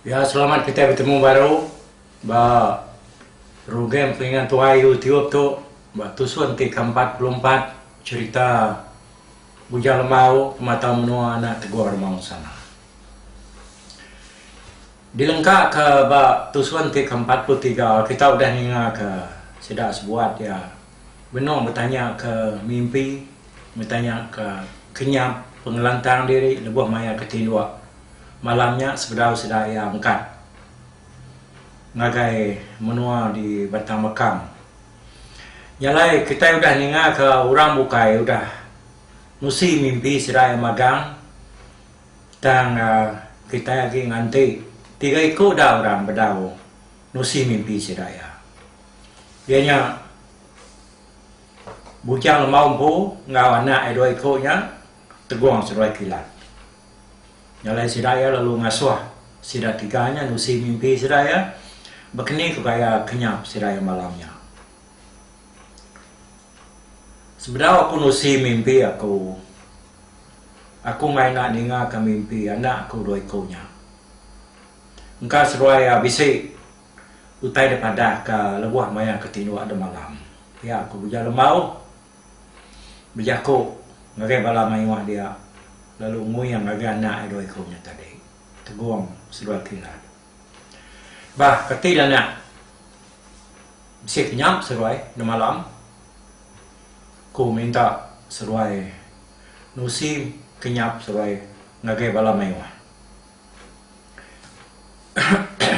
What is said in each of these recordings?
Ya selamat kitai betemu baru ba program telinga tuai YouTube tu ba tusun ti ke empat puluh empat cerita Bujang Lembau Pematau Menua Anak Teguh Remansang. Dilengkaka ba tusun ti keempat puluh tiga, kita udah ningaka sida sebuat iya benung betanyaka mimpi, betanyaka kenyap pengelantang diri lebuh maya ke tinduk malam nya sebedau sida iya engkat ngagai menua di Batang Mekang. Nya alai kitai udah ningaka orang bukai udah nusi mimpi sida iya magang. Tang kitai agi nganti tiga iku da orang bedau nusi mimpi sida iya. Iya nya Bujang Lemau empu enggau anak iya dua iku nya Tegong Seduai Kilat. Nya alai sida iya lalu ngasuh sida tiga nya nusi mimpi sida iya. Ba keni ku gaya kenyap sida iya malam nya. Sebedau aku nusi mimpi aku, aku maya enda ningaka mimpi anak aku dua iku nya. Engka seduai iya bisi utai da padah ka lebuh maya ke tinduk da malam. Pia aku Buja Lembau bejaku ngagai bala mayuh dia lalu nguing ngagai anak iya dua iku nya tadi, tegong seduai kilat. Bah keti dah anak bisi ke nyam seruai nemalam ku minta seruai nusi ke nyap seruai ngagai bala mayuh.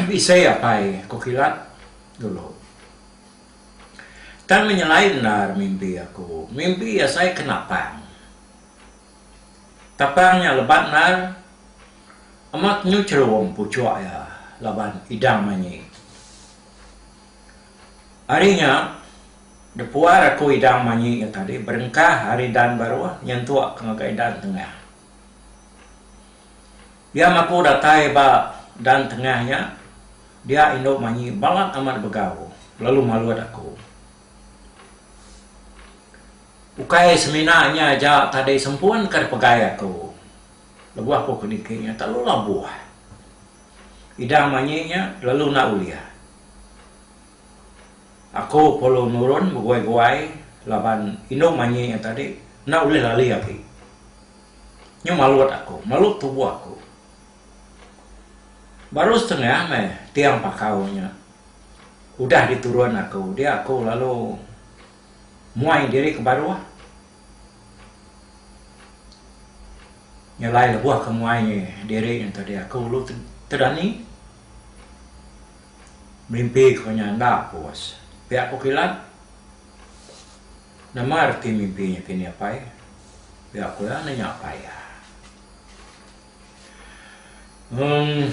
Bisi apai ku kilat dulu. Tang menyelai endar mimpi aku. Mimpi asai ke napang. Tapang nya lebat ndar. Amat nyuchrum puchuk iya laban idang manyi. Ari nya, depuar aku idang manyi nya tadi berengkah ari dan baruh nyentuk ke ngagai dan tengah. Iya maku datai ba dan tengah nya dia indu manyi balat amat begau lalu malut aku. Ukai semina nya aja tadi sempun ka dipegai aku lebuh aku ke niki nya telalu labuh. Idang manyi nya lalu enda ulih. Aku perlu nurun beguai-guai laban indu manyi nya tadi enda ulih lali agi. Nyu malut aku, malut tubuh aku. Baru setengah meh tiang pakau nya. Udah diturun aku dia aku lalu muai diri ke baruh nyelai lebuh ke muai diri ento dia aku lalu tedani mimpi ku nya enda pus pia ku kilat nama reti mimpi nya kini apai pia ku iya nanya apai iya. Mung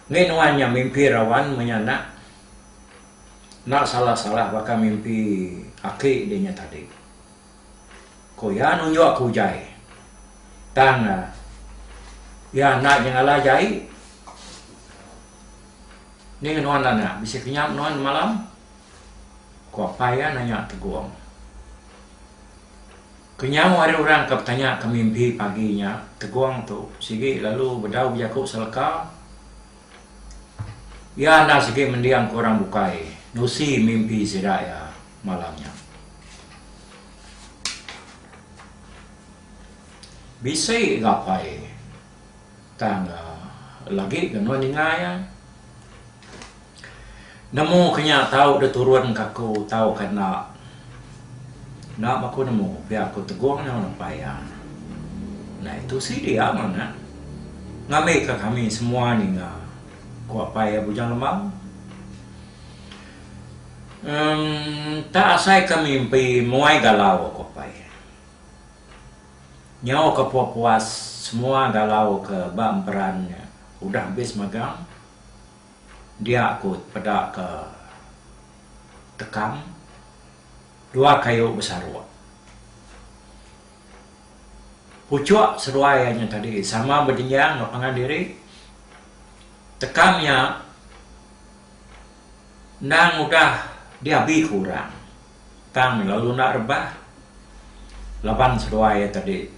mih nuan nya mimpi rawan meh nya nak. Enda salah salah baka mimpi aki dia nya tadi. Ko iya nunjuk aku jai. Tang dah iya enda nyengala jai. Nih nuan anak bisi kenyap nuan semalam? Ko apai iya nanya tegong. Kenyau ari orang ke betanya ke mimpi pagi nya Tegong tu sigi lalu bedau bejaku seleka iya enda sigi mending ke orang bukai nusi mimpi sida iya malam nya. Bisi gapai. Tang lagi ke nuan ninga iya. Nemu ke nya tau deh turun ke aku tau ke enda. Enda pun aku nemu pia aku tegong iya ngerepai iya. Nah itu sidi amat ngambi ke kami semua ninga, ku apai iya Bujang Lemau. Em enta asai ke mimpi muai galau, ku apai iya. Nyau ke pua puas semua galau ke ba emperan nya udah habis magang dia ku peda ke tekam dua kayu besaruk. Puchuk seruai iya nya tadi sama bedinjang enggau pangan diri tekam nya endang udah diabi ku orang. Tang lalu enda rebah laban seduai iya tadi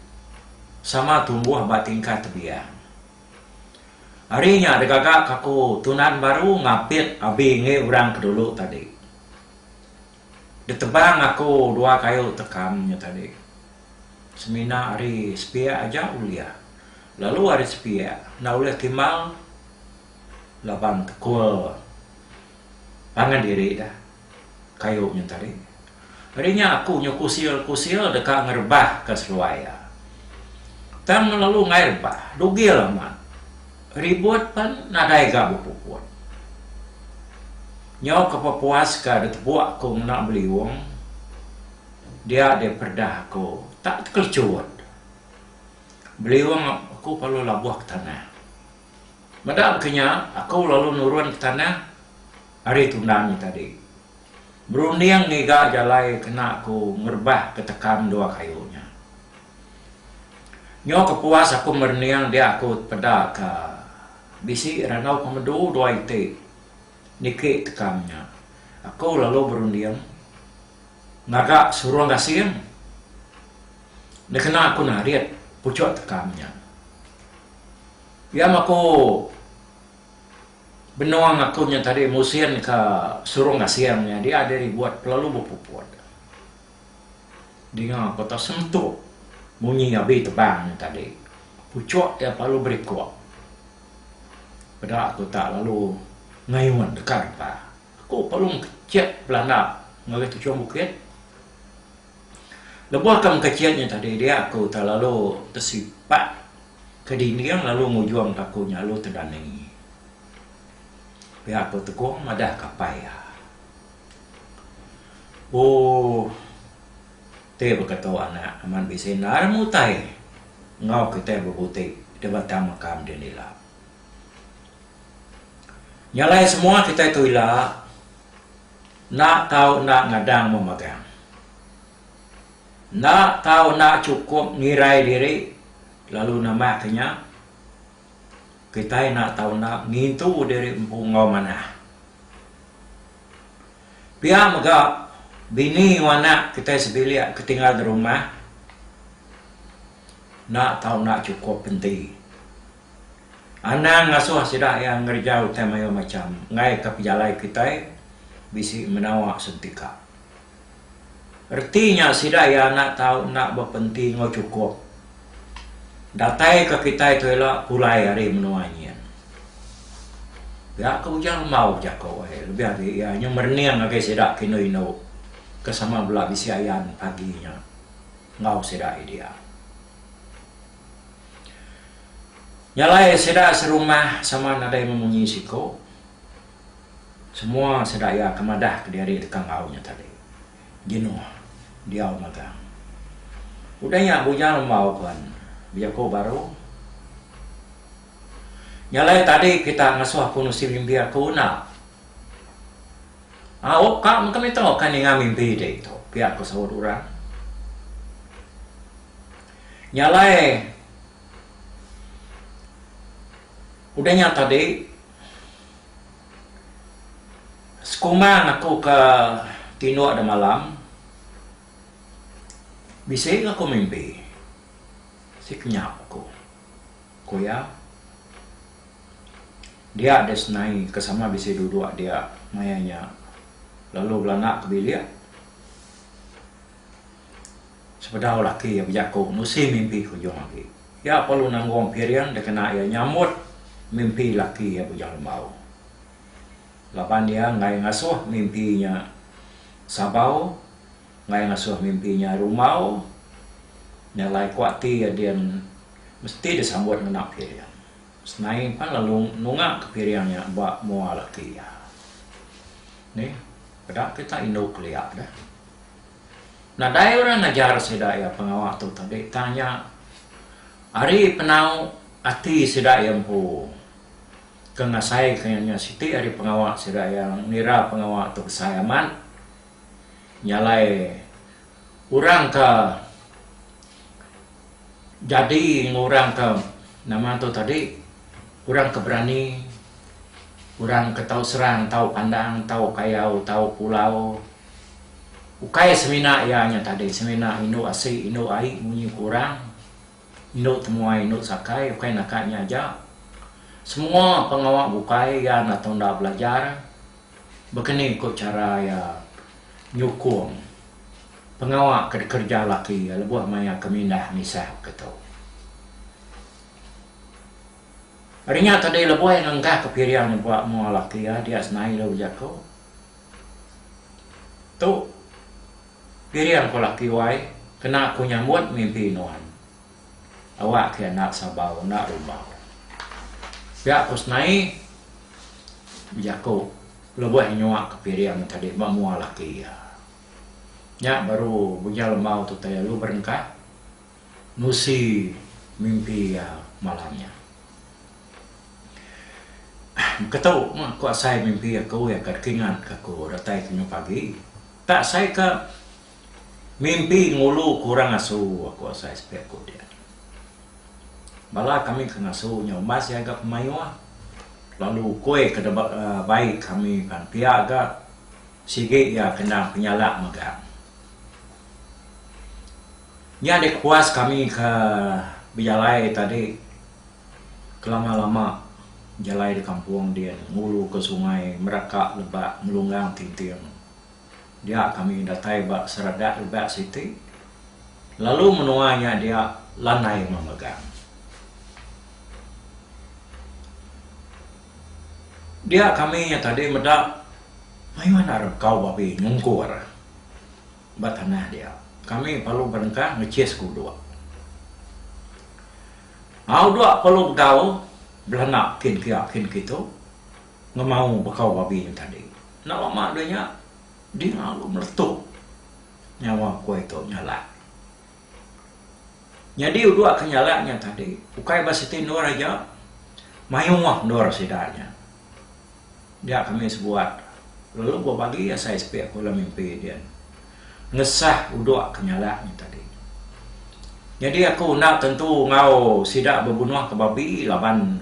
sama tumbuh ba tingkat tebiang. Ari nya degaga kaku tunan baru ngapit abi enggi orang ke dulu tadi. Ditebang aku dua kayu tekam nya tadi. Semina ari sepiak aja ulih lalu ari sepiak enda ulih timbal laban tekul pangan diri dah. Kayu nya tadi. Ari nya aku nyu kusil-kusil deka ngerebahka seluai iya. Tang ngelalu ngair rebah. Dugil amat. Ribut pen nadai ga bepuput. Nyu ke pepuas ka ditepuk aku ngena beliung dia deh peredah aku tak tekelechut. Beliung aku palu labuh ke tanah. Meda ke nya, aku lalu nurun ke tanah ari tundang nya tadi, berunding ngiga jalai kena aku ngerebah ke tekam dua kayu nya. Nyu ke puas aku merening dia aku peda ke bisi randau pemedu dua iti niki tekam nya. Aku lalu berunding ngaga surung gasing nekena aku narit puchuk tekam nya. Pia maku benung aku nya tadi musin ka Surung Gasing nya dia diri buat pelalu bepuput. Dinga ko tau sentuk munyi abi tebang nya tadi. Puchok iya pelalu berikok. Peda ko tak lalu ngayun deka depa. Aku pelalu mekecek belanda ngagai tuchum bukit. Lebuh ke mekecit nya tadi dia aku telalu tesipak ke dinding lalu ngujung ke aku nya lalu tedani. Pia aku tekong madah ke apai iya. Ooh ti baka tu anak amat bisi enda inya mutai enggau kitai bebuti di batang makam dini ila. Nya alai semua kitai tu ila. Enda tau enda ngadang memagang. Enda tau enda chukup ngirai diri lalu nambahka nya, Kitai enda tau enda ngintu diri empu enggau manah. Pia mega bini enggau anak kitai sebilik ke tinggal di rumah enda tau enda chukup penti. Anang ngasuh sida iya ngereja utai mayuh macham ngaika pejalai kitai bisi menawa sentika. Reti nya sida iya enda tau enda bepenti enggau chukup. Dataika kitai tu ila pulai ari menua nyin. Pia ke ujar Embau Jako ai lebih agi iya nyau merening ngagai sida ke indu-indu ke sama bela bisi ayan pagi nya enggau sida iya diau. Nya alai sida serumah sama nadai memunyi siko. Semua sida iya ke madah kediri deka enggau nya tadi. Jenuh diau magang. Udah nya bujang rembau pen bejaku baru. Nya alai tadi kita ngasuh aku nusi mimbi aku enda. Au ka mega mito ka ninga mimbi ditu pia ko saut orang. Nya alai, udah nya tadi, sekumang aku ke tinduk da malam, bisi ga aku mimpi. Bisi ke nyap aku, ku iya. Dia deh senai ke sama bisi duduk dia maya nya lalu belanak ke bilik. Sepedau laki iya bejaku nusi mimpi ke ujung agi. Iya perlu nanggung piring dikena iya nyamut mimpi laki iya bujang lembau. Laban iya enggai ngasuh mimpi nya sabau, enggai ngasuh mimpi nya rumbau, nya alai ku ati iya din mesti disambut ngena piring. Senai pan lalu nungaka piring nya ba mua laki iya. Nih, peda kita indu kelia deh. Nadai orang ngajar sida iya pengawa tu tadi tang nya ari penau ati sida iya empu ke ngasaika iya. Nya siti ari pengawa sida iya ngira pengawa tu besai amat nyalai orang ke. Jadi enggau orang ke nama tu tadi orang ke berani orang ke tau serang tau pandang tau kayau tau pulau ukai semina iya nya tadi semina indu asi indu ai munyi ku orang indu temuai indu sakai ukai naka nya aja semua pengawa bukai iya enda tau belajar begeni ku chara iya nyukung. Pengawa ke dikereja laki iya lebuh maya ke mindah misal ke tu. Ari nya tadi lebuh iya ngenggahka piring nyebak mua laki iya dia senai dau bejaku. Tu piring ku laki wai kena aku nyambut mimpi nuan. Awak ke enda sabau enda rumbau. Pia ku senai bejaku lebuh iya nyuaka piring tadi ba mua laki iya. Nya baru Bujang Lemau tu utai lalu berengkah nusi mimpi iya malam nya. Engka tau meh ku asai mimpi aku iya ka dikingat ka aku datai ke nyu pagi. Ka asai ka mimpi ngulu ke orang asu aku asai sepiak ku dia. Bala kami ke ngasu nya umbas iya ga pemayuh lalu ukoi ke da ba bai kami pan pia ga. Sigi iya kena penyala mega. Nya deh puas kami ke bejalai tadi kelama-lama jalai di kampung din ngulu ke sungai meraka lebak ngelunggang tinting. Dia kami datai ba seradak lebak siti lalu menua nya dia landai memegang. Dia kami nya tadi meda mayuh anak rengkau babi nyungkur ba tanah dia. Kami perlu berengkah ngechis ke udok. Au dok perlu begau belanda kin pia kin kitu ngemau bekau babi nya tadi. Enda lama deh nya dia lalu meletup nyawa ku ai tu nyalah. Nyadi uduk ke nyala nya tadi ukai ba siti endur aja mayuh endur sida nya dia ke mih sebuat lalu bua bagi asai sepi aku dalam mimpi din ngesah uduk ke nyala nya tadi. Nyadi aku enda tentu enggau sida bebunuh ke babi laban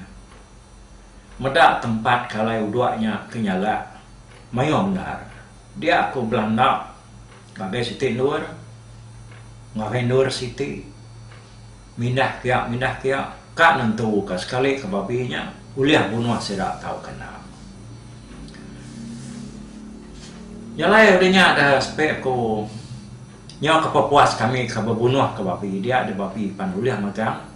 meda tempat ke alai uduk nya ke nyala mayuh bendar dia aku bela enda Ngagai siti endur, ngagai endur siti, mindah pia mindah pia, ka nentu ka sekali ka babi nya ulih bunuh sida tauka enda. Nya alai udah nya da sepe ku nyau ka pepuas kami ka bebunuh ka babi dia da babi pan ulih megang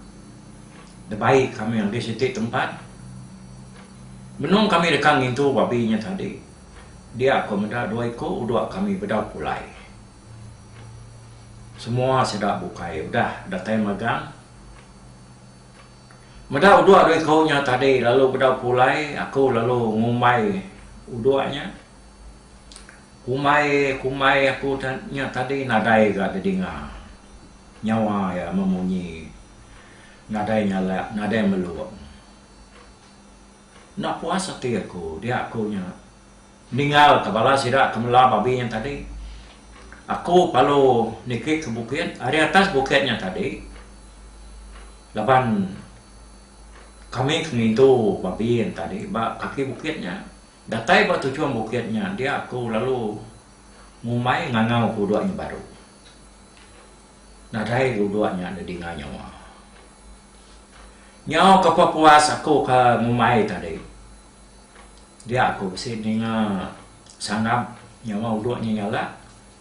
da bai kami ngagai siti tempat. Benung kami deka ngintu babi nya tadi. Dia ko meda dua iko udok kami bedau pulai. Semua sida bukai udah datai magang. Meda udok dua iko nya tadi lalu bedau pulai aku lalu ngumbai udok nya. Kumbai kumbai aku nya tadi nadai ga didinga. Nyawa iya memunyi nadai nyalak nadai melung. Enda puas ati aku dia aku nya ningalka bala sida ke melar babi nya tadi. Aku palu niki ke bukit ari atas bukit nya tadi laban kami ke ngintu babi nya tadi ba kaki bukit nya. Datai ba tujung bukit nya dia aku lalu ngumbai ngangau ke udok nya baru. Nadai udok nya didinga nyawa. Nyau ke pepuas aku ke ngumbai tadi dia aku bisi ninga sangap nyama udok nya nyala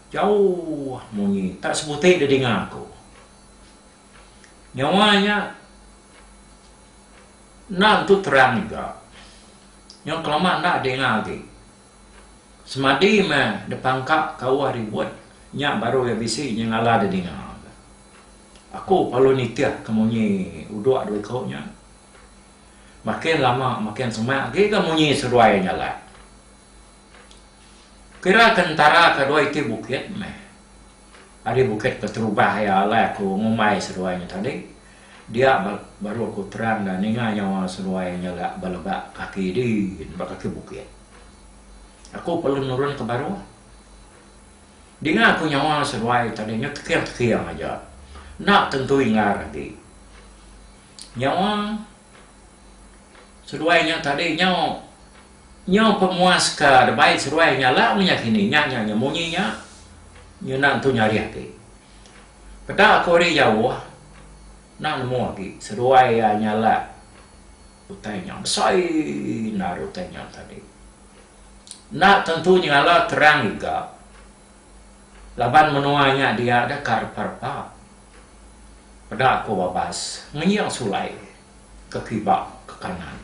jauh munyi tak sebuti da dinga aku. Nyama nya enda entu terang juga nyau kelama enda dinga agi semadi meh dipangka ka uwah ribut nya baru iya bisi nyengala da dinga. Aku palu nitih ke munyi uduk dua iku nya. Makin lama makin semak agi ga munyi seduai nyalat. Kira ke entara ke dua iti bukit meh. Ari bukit Peterubah iya alai aku ngumbai seduai nya tadi. Dia baru aku terang ga ninga nyawa seduai nyalat ba leba kaki din ba kaki bukit. Aku palu nurun ke baruh. Dinga aku nyawa seduai tadi nyu teking-teking aja. Enda tentu inggar agi. Nyawa seduai nya tadi nyau nyu pemuas ke debai seduai nya la menya kini nya nya nya munyi nya nyu enda entu nyarih agi. Peda aku ari jauh enda nemu agi seduai iya nyala utai nya besai endar utai nya tadi. Enda tentu nyengala terang ega laban menoa nya dia deh ka repa-repa. Peda ko Babas ngenying sulai ke kiba ke kanan.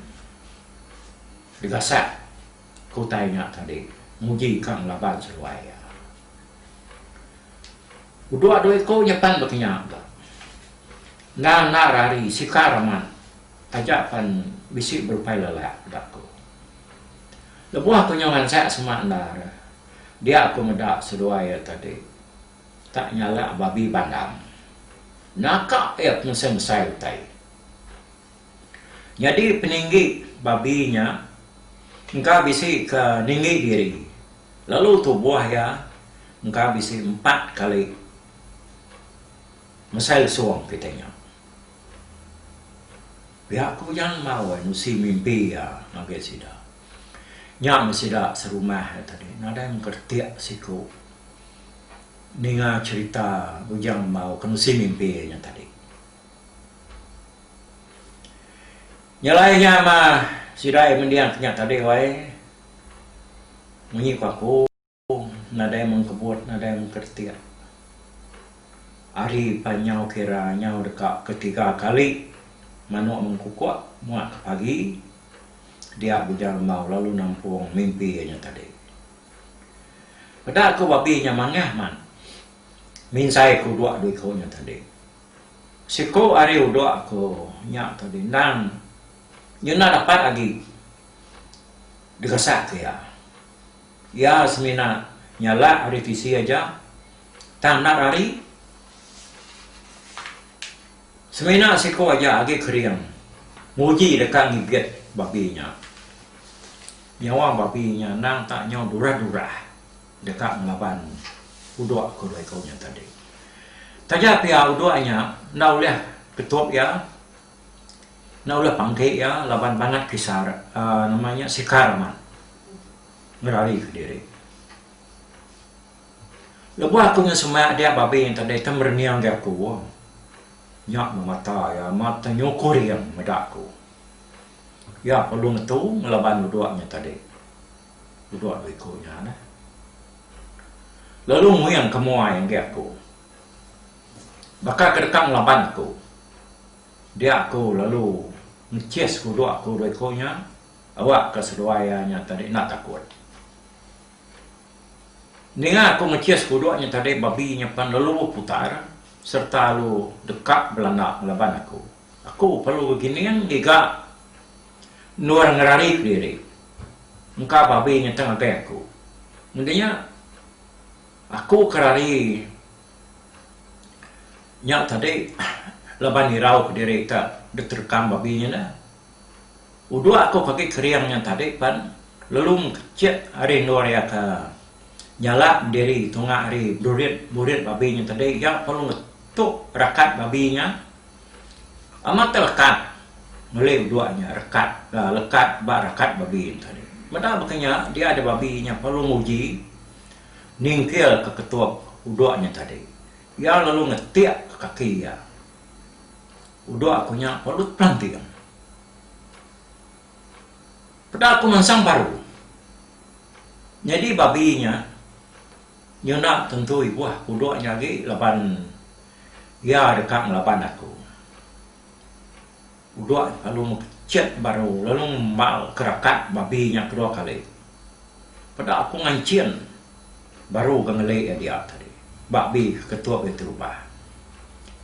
Degasak ke utai nya tadi nguji ka ngelaban seduai iya. Udok dua iko nyepan bekenya ga. Enda endar ari sikar amat taja pan bisi berupai lelak peda ko. Lebuh aku nyau ransak semak endar, dia aku meda seduai iya tadi ka nyala babi bandang. Naka iya pengesai-ngesai utai. Nyadi peninggi babi nya engka bisi ke ninggi diri lalu tubuh iya engka bisi empat kali mesai lesung kitai nya. Pia aku nyang enggau ai nusi mimpi iya ngagai sida. Nya meh sida serumah iya tadi nadai mengkertik siku ninga cherita Bujang Embau ke nusi mimpi iya nya tadi. Nyelai nya mah sida iya mending ke nya tadi wai munyi ku aku. Pung, nadai mung kebut, nadai mung keretik. Ari pan nyau kira nyau deka ke tiga kali manuk mengkukuk muak ke pagi, dia Bujang Embau lalu nampung mimpi iya nya tadi. Peda ku babi nya mangah man minsai ke uduk dua iku nya tadi. Siku ari uduk aku nya tadi endang nyuna dapat agi digasak iya. Iya semina nyala ari tisi aja tang enda rari. Semina siko aja agi kering nguji deka ngigit babi nya. Nyawa babi nya endang tak nyau durah-durah deka ngelaban udok ke dua iko nya tadi. Taja pia udok nya enda ulih ketup iya Enda ulih pangki iya laban bangat kisar uhh nama nya sikar amat ngerarika diri. Lebuh aku ngan sema adik babi enti deh ita merening agi aku nya meh mata iya amat ita nyukur iya meda aku. Iya perlu ngetu ngelaban udok nya tadi. Udok dua iku nya neh. Lalu nguing ke muai agi aku. Baka ke deka ngelaban aku, dia aku lalu ngechis kuduk aku dua iku nya awakka seduai iya nya tadi enda takut. Ninga aku ngechis kuduk nya tadi babi nya pan lalu beputar sereta lalu deka belanda ngelaban aku. Aku perlu begining ngiga endur ngerarika diri engka babi nya tau ngagai aku. Ngendi nya aku ke rari. Nya tadi laban irau kediri ka diterkam babi nya dah. Udok aku ke agi kering nya tadi pan lalu mengkecek ari endur iya ka nyalak diri tunga ari durit murit babi nya tadi iya perlu ngetuk rakat babi nya amat tau lekat meli udok nya rekat aaa lekat ba rakat babi nya tadi. Meda baka nya dia nya babi perlu nguji ningkilka ketup uduk nya tadi. Iya lalu ngetikka kaki iya. Uduk aku nya pelut pelanting. Peda aku mansang baru. Nyadi babi nya nyuna tentu ibuh ke uduk nya agi laban iya deka ngelaban aku. Uduak lalu mekechet baru lalu ngembal ke rakat babi nya kedua kali. Peda aku nganchin baru ga ngeli iya dia tadi. Babi ke ketup iya ti rubah.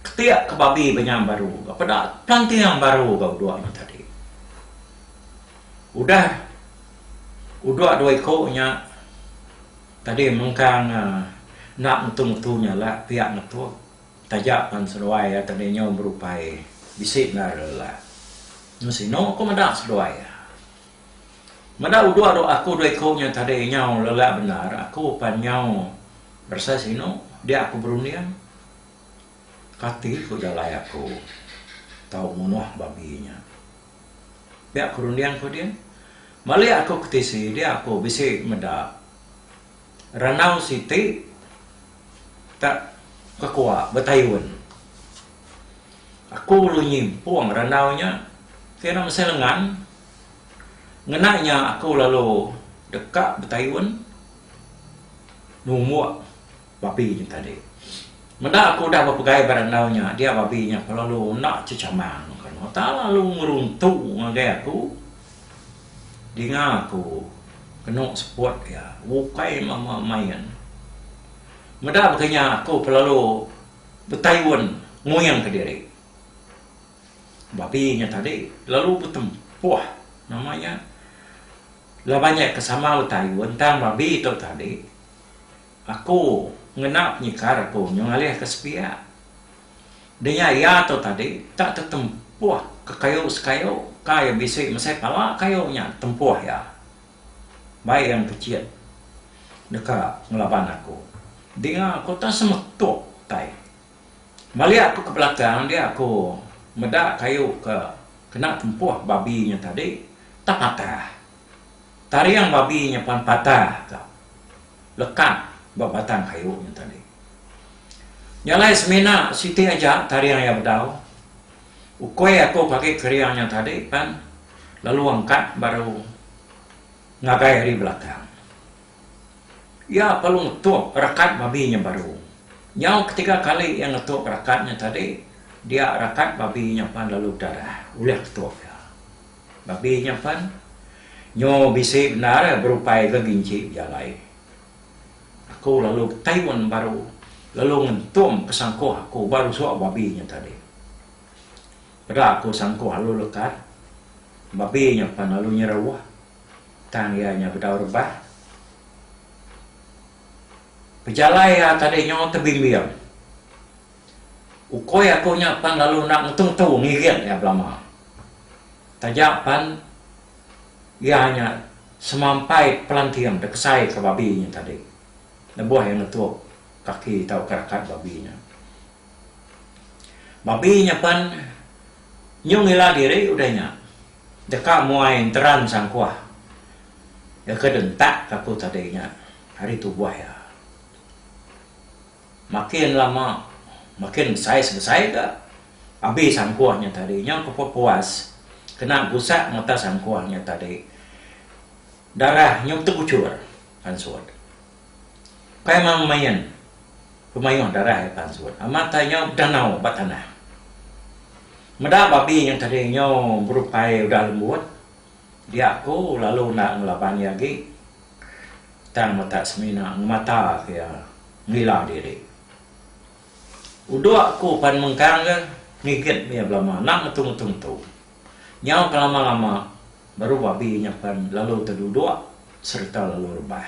Ketik ke babi ba nya baru ga peda pelanting baru ga uduak nya tadi. Udah uduak dua iko nya tadi mengkang enda ngetu-ngetu nya alak piak ngetu. Taja pan seduai ati Nino berupai bisi nara lah. Nya sinu aku meda seduai. Meda uduk dok aku dua iku nya tadi nyau lelak bendar aku pan nyau beresai sinu dia aku berunding kati ku jalai aku tau munuh babi nya. Pia aku runding ku dia. Malik aku ke tisi dia aku bisi meda. Ranau siti ka kekua betayun. Aku lalu nyimpung ranau nya kira mesai lengan ngena nya aku lalu deka betayun numbuk babi nya tadi. Meda aku udah bepegai ba ranau nya dia babi nya lalu enda chechamang lalu ngeruntu ngagai aku. Dinga aku kenu seput iya ukai mama main. Meda baka nya aku kelalu betayun nguing kediri. Babi nya tadi lalu betempuh nama nya laban iya ke sama betayun tang babi tu tadi aku ngena penyekar aku nyu ngalih ke sepiak. Denya iya tu tadi tak tetempuh ke kayu sekayu ka iya bisi mesai pala kayu nya tempuh iya. Bai iya ngepechit deka ngelaban aku. Dinga aku tak semetuk tai. Malik aku ke belakang dia aku meda kayu ke kena tempuh babi nya tadi tak patah. Taring babi nyepan patah ka lekat ba batang kayu nya tadi. Nya alai semina siti aja taring iya bedau. Ukoi aku ke agi kering nya tadi pan lalu angkat baru ngagai ari belakang. Iya lalu ngetuk rakat babi nya baru. Nyau ke tiga kali iya ngetuk rakat nya tadi dia rakat babi nya pan lalu bedarah ulih ketuk iya. Babi nya pan nyo bisi bendar berupai ga ginci bejalai. Aku lalu betaun baru lalu ngentung ke sangkuh aku ba rusuk babi nya tadi. Peda aku sangkuh lalu lekat, babi nya pan lalu nyeruh tang iya nya bedau rebah. Pejalai iya tadi nyo tebimbing. Ukoi aku nya pan lalu enda ngetu-ngetu ngirit iya belama. Taja pan iya nya semampai pelanting dekesai ke babi nya tadi lebuh iya ngetuk kaki tauka rakat babi nya. Babi nya pan nyung ila diri udah nya deka muai enteran sangkuh iya ke dentak ke aku tadi nya ari tubuh iya. Makin lama makin besai-sebesai ga abi sangkuh nya tadi. Nyau ke pepuas kena gusak mata sangkuh nya tadi. Darah nyau tebuchur pansut. Kai mang main pemayuh darah iya pansut. Amat ai nyau bedanau ba tanah. Meda babi nya tadi nyau berupai udah lembut. Dia ku lalu enda ngelaban iya agi. tang metak semina ngemata ka iya ngila diri. Udok aku pan mengkang ga ngiget mih iya belama enda ngetu ngetu ngetu. Nyau ke lama lama baru babi nya pan lalu tedudok sereta lalu rebah.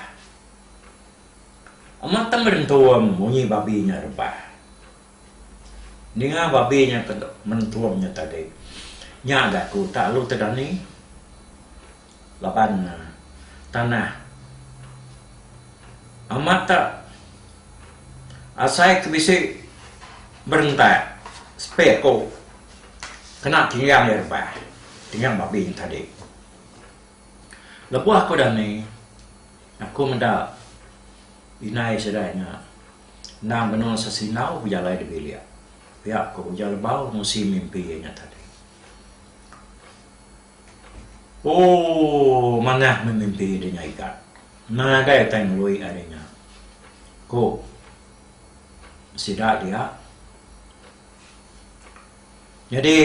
Amat tang berentum munyi babi nya rebah. Ninga babi nya ke berentum nya tadi nya ga aku tak lalu tedani. Laban tanah amat tak asai ke bisi berentak sepik ku kena tinggang iya rebah tinggang babi nya tadi. Lebuh aku dani aku meda inai sida nya endang benung sesinau bejalai di bilik pia ku ujar lebau musi mimpi iya nya tadi. Ooh manah memimpi diri nya ika. Ngagai utai ngelui ari nya. Ku sida dia. Nyadi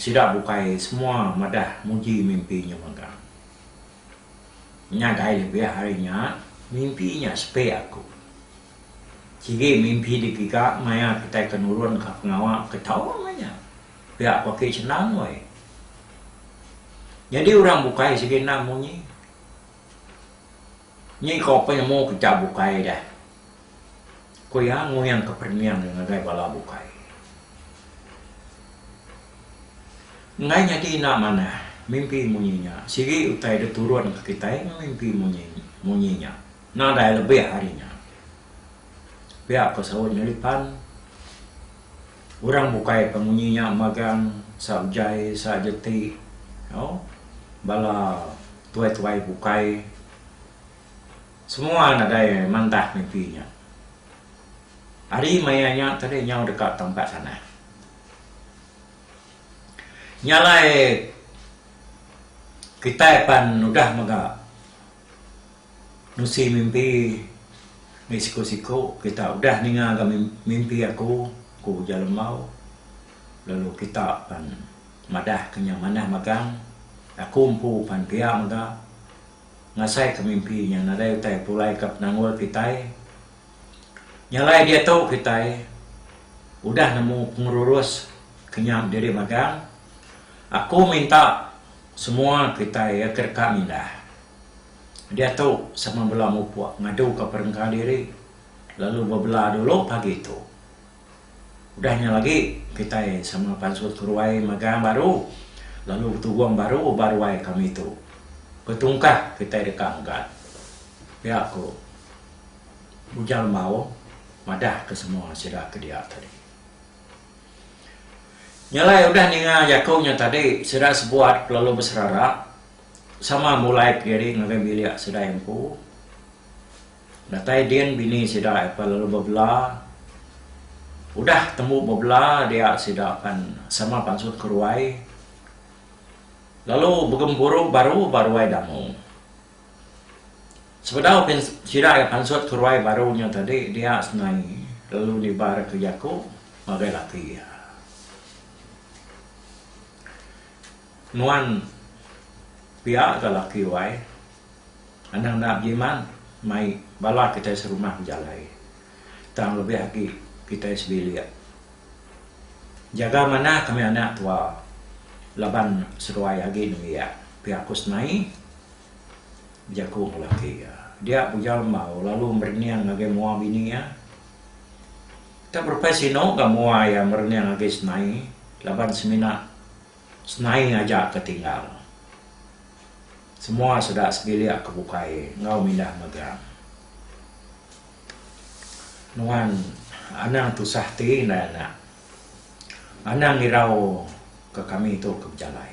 sida bukai semua madah muji mimpi nya mega. Ngagai lebih ari nya mimpi nya sepe aku. Sigi mimpi digiga maya kitai ke nurun ka pengawa ke tau mah nya. Pia paki senang wai. Nyadi urang bukai sigi endang munyi. Nyi ko penemu kita bukai dah. Ko iya nguing ke perening iya ngagai bala bukai. Enggai nyadi enda manah mimpi munyi nya. Sigi utai deh turun ke kitai meh mimpi munyi munyi nya. Nadai lebih ari nya. Pia ko saut nyelipan. Urang bukai ka munyi nya magang sa ujai sa aja ti au bala tuai-tuai bukai semua nadai mandah mimpi nya. Ari maya nya tadi nyau deka tampat sanang. Nya alai kitai pan udah mega. Nusi mimpi mih siku-siku kita udah ninga ga mimpi aku, ku ujar Lembau lalu kita pan madah ke nya manah magang. Aku empu pan pia mega ngasai ke mimpi nya nadai utai pulai ka penanggul kitai. Nyalai diatu kitai udah nemu pengerurus ke nya diri magang. Aku minta semua kitai ya ke deka mindah. Diatu sama bela mupuk ngaduka perengka diri lalu bebela dulu pagi tu. Udah nya lagi kitai sama pansut ke ruai magang baru lalu betugong baru ba ruai kami tu. Betungkah kitai deka megat. Pia ku Ujang Lembau madah ke semua sida ke dia tadi. Nya alai udah ninga jaku nya tadi sida sebuat lalu beserara. Sama mulai pegiri ngagai bilik sidai empu. Datai din bini sida apai lalu bebela. Udah tembu bebela dia sida pan sama pansut ke ruai lalu begempuru baru ba ruai Dangu. Sebedau sida iya pansut ke ruai baru nya tadi dia senai lalu nibarka jaku ngagai laki iya. Nuan pia ga laki wai. Anang enda bejiman mai bala kitai serumah bejalai tang lebih agi kitai sebilik. Jaga manah kami anak tua laban seduai agi nembiak, pia ku Snai bejaku enggau laki iya. Dia Bujang Lembau lalu merening ngagai mua bini iya. Enda berepai sinu ga mua iya merening ngagai Snai laban semina. Senai aja ke tinggal. Semua seda sebilik ke bukai enggau mindah mega. Nuan anang tusah ti indai anak. Anang irau ke kami tu ke bejalai.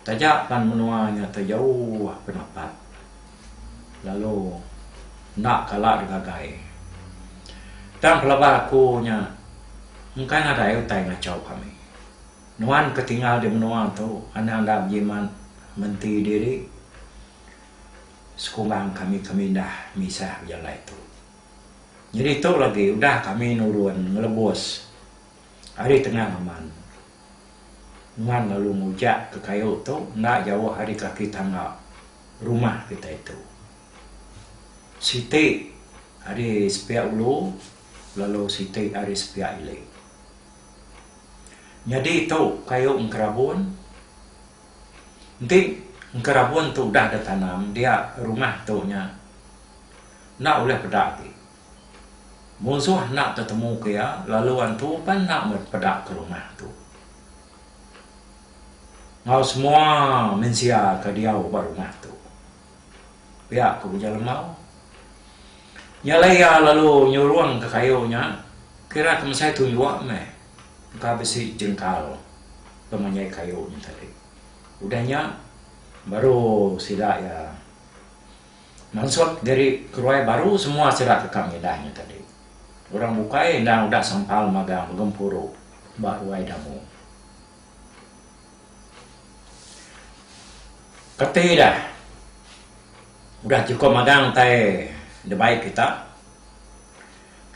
Taja pan menua nya tejauh penapat lalu enda kala digagai. Tang pelaba aku nya engkai nadai utai ngachau kami. Nuan ke tinggal di menua tu anang enda bejimat menti diri sekurang kami ke mindah misah bejalai tu. Nyadi tu lagi udah kami nurun ngelebus ari tengah ngeman. Nuan lalu mujak ke kayu tu enda jauh ari kaki tangga rumah kitai tu. Siti ari sepiak ulu lalu siti ari sepiak ili. Nyadi tu kayu engkerabun. Enti engkerabun tu udah ditanam dia rumah tu nya enda ulih peda agi. Musuh enda tetemuka iya, lalu antu pan enda meh peda ke rumah tu. Enggau semua mensia ke diau ba rumah tu. Pia ku Ujan Lembau. Nya alai iya lalu nyurungka kayu nya, kira ke mesai tu jua meh engka bisi jengkal ke menyai kayu nya tadi. Udah nya baru sida iya. Mansut diri keruai baru semua sida ke kam ngidah nya tadi. Orang bukai endang udah sempal magang begempuru ba ruai Damu. Kati ida udah chukup magang utai dibai kita.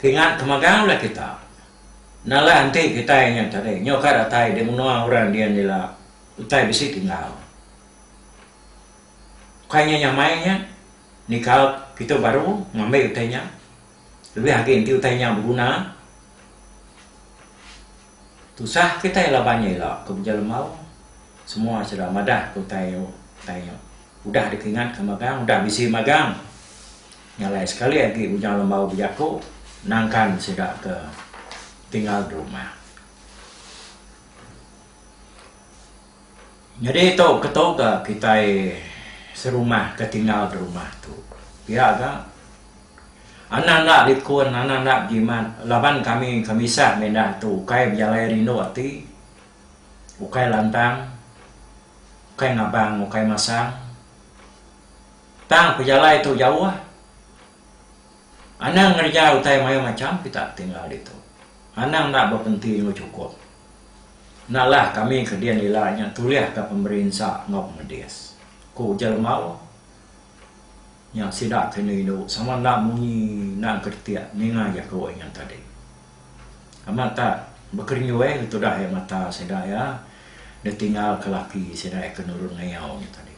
Kingat ke magang udah kita. Nalah enti kitai nya tadi nyau ka datai di menua orang dian ila utai bisi tinggal. Ukai nya nyamai nya nika kitu baru ngambi utai nya lebih agi enti utai nya beguna tusah kitai laban nya ila kebuja lembau semua sida madah ke utai utai nya udah dikingat ke magang udah bisi magang nya alai sekali agi bujang lembau bejaku nangkan sida ke tinggal di rumah. Nyadi tu ketu ga kitai serumah ke tinggal di rumah tu. Pia ga anak enda likun, anak enda bejimat laban kami ke misah meh indah tu ukai bejalai rindu ati, ukai lantang, ukai ngabang, ukai masang. Tang pejalai tu jauh. Anang ngereja utai mayuh macham kita tinggal ditu. Anang enda bepenti enggau chukup. Nalah kami ke din ila nya tulihka pemeri ensa enggau pemedis, ku ujar Lemau nya sida ke indu indu sama enda munyi enda engka detik ninga iya ke wei nya tadi. Amat tak bekerenyui ke tudah iya mata sida iya ditinggalka laki sida iya ke nurun ngayau nya tadi.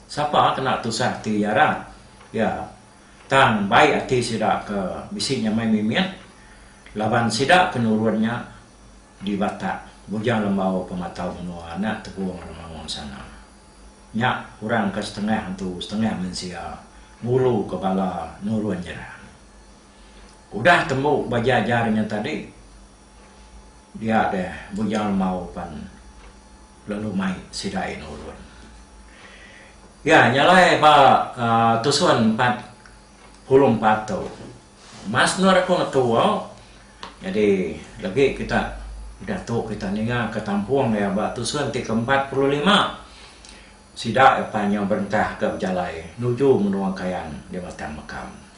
Sapa kena tusah ati iya rat? Iya Tang baik ati sida ke bisi nyamai mimit laban sida ke nurun nya di Batak, Bujang Lembau Pematau Menua anak Tegong Remangun Sana. Nya orang ke setengah antu setengah mensia ngulu ke bala nurun nyerang. Udah tembu ba jajar nya tadi, Dia deh Bujang Lemau pan lalu mai sida iya nurun. Iya nyalai ba tusun empat puluh empat tu. Mas endur aku ngetu au nyadi legi kita udah tu kita ninga ke tampung iya ba tusun ti ke empat puluh lima. Sida iya pan nyau berentah ke bejalai nuju menua Kayan di Batang Mekam.